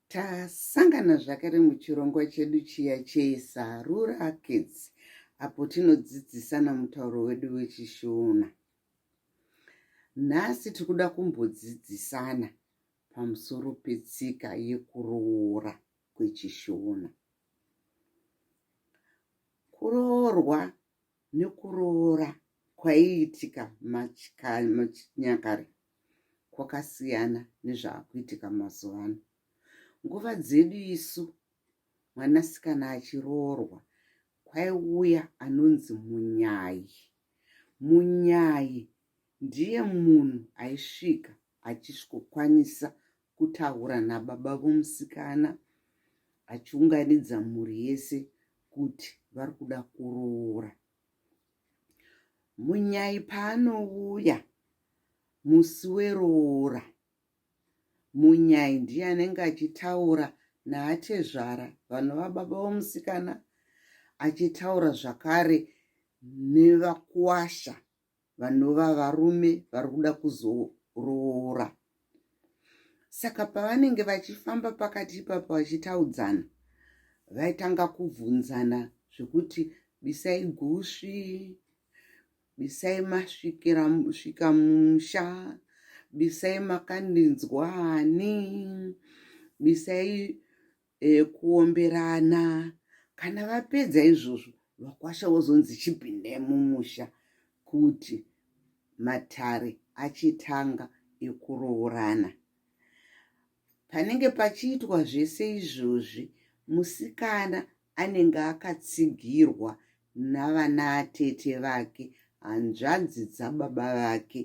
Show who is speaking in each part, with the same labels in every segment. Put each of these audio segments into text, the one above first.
Speaker 1: tasangana zvakare muchirongwa chedu chiya chesarura kids apo tinodzidzisana mutauro wedu wechishona nhasi tiri kuda kumbodzidzisana pamusoro petsika yekuroora kwechishona kuroorwa nekuroora kwaiitika muchinyakare kwakasiyana nezvaakuitika mazuva ano nguva dzedu isu mwanasikana achiroorwa kwaiuya anonzi munyayi munyayi ndiye munhu aisvika achisvikokwanisa kutaura nababa vomusikana achiunganidza mhuri yese kuti vari kuda kuroora munyai paanouya musi weroora munyai ndiye anenge achitaura naatezvara vanova baba vomusikana achitaura zvakare nevakuwasha vanova varume vari kuda kuzoroora saka pavanenge vachifamba pakati ipapo vachitaudzana vaitanga kubvunzana zvekuti bisai gusvi bisai masvikira svika musha bisai makandinzwani bisai e, kuomberana kana vapedza izvozvo vakwasha vozonzi chipindai mumusha kuti matare achitanga ekuroorana panenge pachiitwa zvese izvozvi musikana anenge akatsigirwa navana atete vake hanzvadzi dzababa vake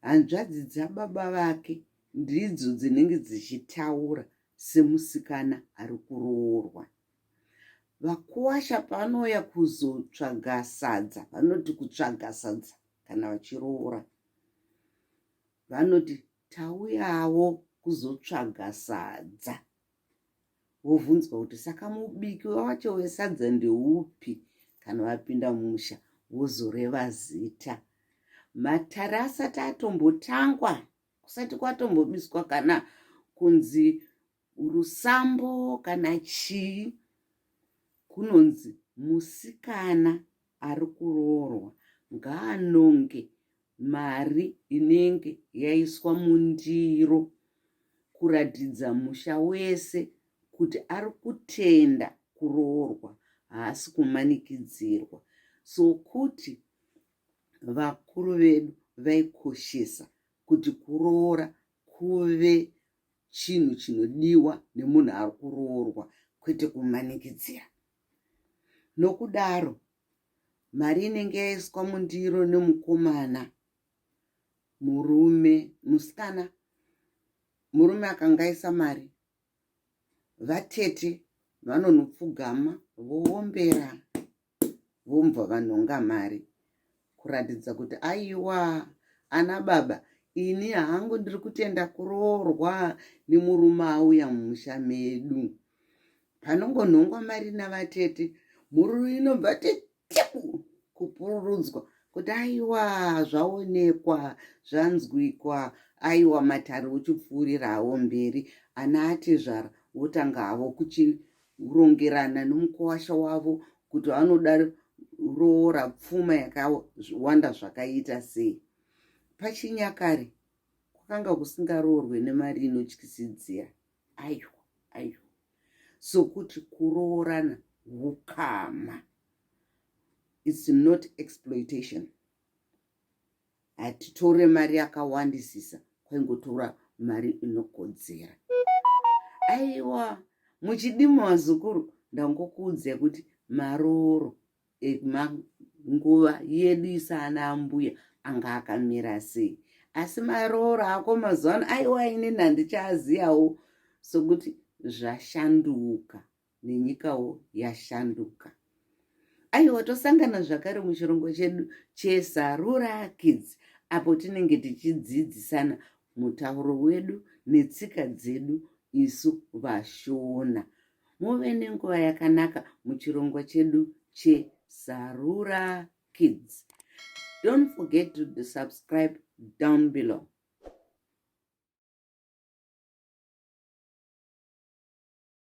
Speaker 1: hanzvadzi dzababa vake ndidzo dzinenge dzichitaura semusikana ari kuroorwa vakuwasha paanouya kuzotsvaga sadza vanoti kutsvaga sadza kana vachiroora vanoti tauyawo kuzotsvaga sadza wovhunzwa kuti saka mubiki wacho wesadza ndeupi kana vapinda musha wozoreva zita matare asati atombotangwa kusati kwatombobiswa kana kunzi rusambo kana chii kunonzi musikana ari kuroorwa ngaanonge mari inenge yaiswa mundiro kuratidza musha wese kuti ari kutenda kuroorwa haasi kumanikidzirwa so kuti vakuru vedu vaikoshesa kuti kuroora kuve chinhu chinodiwa nemunhu ari kuroorwa kwete kumanikidzira Nokudaro, mari inenge yaiswa mundiro nemukomana murume musikana murume akangaisa mari vatete vanonopfugama voombera vombva vanhonga mari kuratidza kuti aiwa ana baba ini hangu ndiri kutenda kuroorwa nemurume auya mumusha medu panongonhongwa mari navatete mhururu inobva teteku kupururudzwa kuti aiwa zvaonekwa zvanzwikwa aiwa matare uchipfuurirawo mberi ana atezvara wotanga havo kuchi kurongerana nomukwasha wavo kuti vanoda roora pfuma yakawanda zvakaita sei pachinyakare kwakanga kusingaroorwe nemari inotyisidzira aiwa aiwa sokuti kuroorana ukama its not exploitation hatitore mari yakawandisisa kwaingotora mari inokodzera aiwa muchidima vazukuru ndangokuudzai kuti maroro emanguva yedu isana ambuya anga akamira sei asi maroro ako mazuva ano aiwa inini handichaaziyawo sokuti zvashanduka nenyikawo yashanduka aiwa tosangana zvakare muchirongo chedu chesarura kids apo tinenge tichidzidzisana mutauro wedu netsika dzedu isu vashona muve nenguva yakanaka muchirongo chedu chesarura kids don't forget to subscribe down below